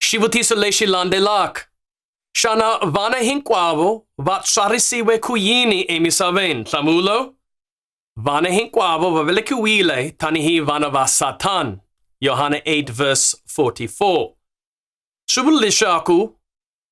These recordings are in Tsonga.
Shivutisa le xilande lak. Xana vana hinkwavo va tswarisiwe ku yini emisaveni? Nhlamulo, Vana hinkwavo va velekiwile tanihi vana va Satan. Yohana 8 verse 44. Swi vula leswaku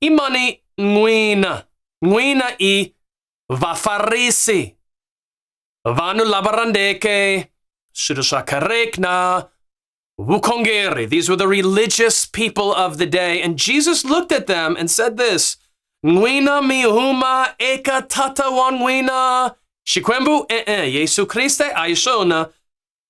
i mani n'wina n'wina i vafarisi vanhu lava rhandzeke swilo swa kereke na vukhongeri these were the religious people of the day and jesus looked at them and said this n'wina mi huma eka tata wa n'wina xikwembu e-e yesu kriste a hi swona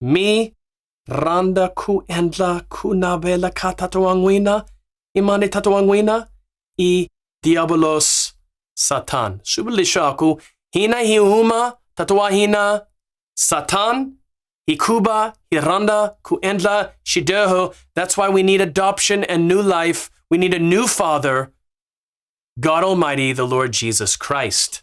Mi rhandza ku endla ku navela ka tata wa n'wina i mani tata wa n'wina i diyavulos satan swi vula leswaku hina hi huma tata wa hina satan hikuva hi rhandza ku endla xidyoho that's why we need adoption and new life we need a new father god almighty the lord jesus christ